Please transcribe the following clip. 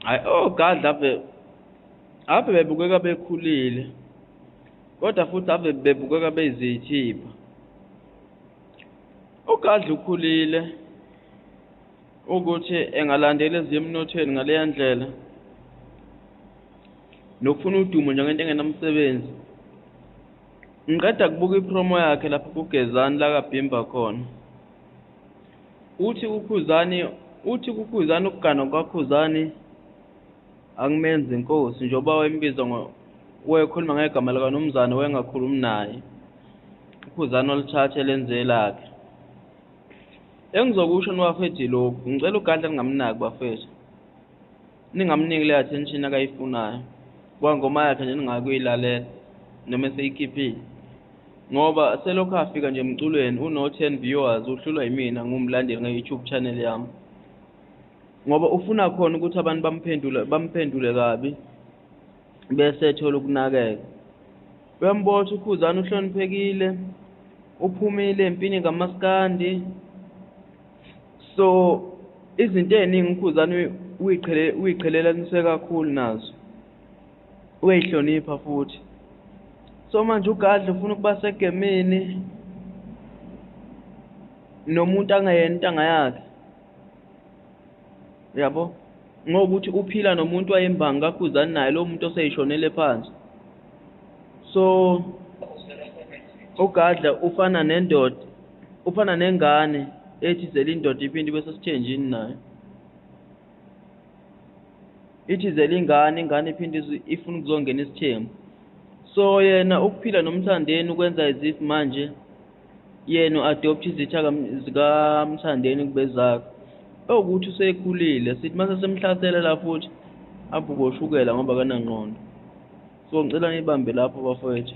hayi ogadla oh, ave ave bebukeka bekhulile kodwa futhi ave bebukeka bezithipha ugadla oh, ukhulile ukuthi engalandeli eziyemnothweni ngaleya ndlela nokufuna udumo njengento engenamsebenzi Ngiqeda kubuka ipromo yakhe lapho kuGezani la kabhimba khona. Uthi kuKhuzani uthi kuKhuzani ukugana kwaKhuzani akumenzi inkosi njengoba wayembiza ngo wayekhuluma ngegama likaNumzane wayengakhulumi naye. UKhuzani walithatha elenze elakhe. Engizokusho nibafethu yilokhu, ngicela uGadla ningamnaki bafethu. ningamniki le attention akayifunayo kuba ngoma yakhe nje ningakuyilalela noma eseyikhiphile ngoba selokhu afika nje emculweni uno-ten viewers uhlulwa yimina ngumlandeli nge-youtube channel yami ngoba ufuna khona ukuthi abantu bamphendule bamphendule kabi bese ethola ukunakeka uyambotha ukhuzana uhloniphekile uphumile empini kamaskandi so izinto eziningi ukhuzane uyiqhelelanise kakhulu nazo uyayihlonipha futhi so manje ugadla ufuna ukuba segemini nomuntu angayena intanga yakhe yabo ngokuthi uphila nomuntu wayembangi kakhuzani naye lowo muntu oseyishonele phansi so ugadla ufana nendoda ufana nengane ethi zela indoda iphinde ibe sesithenjini nayo ithi zela ingane ingane iphinde ifuna ukuzongena isithembu so yena ukuphila nomthandeni ukwenza as if manje yena u-adoptha izitha zikamthandeni kubezakhe ewukuthi usekhulile sithi mase semhlasela la futhi abhukoshukela ngoba kanangqondo so ngicela ngibambe lapho bafowethu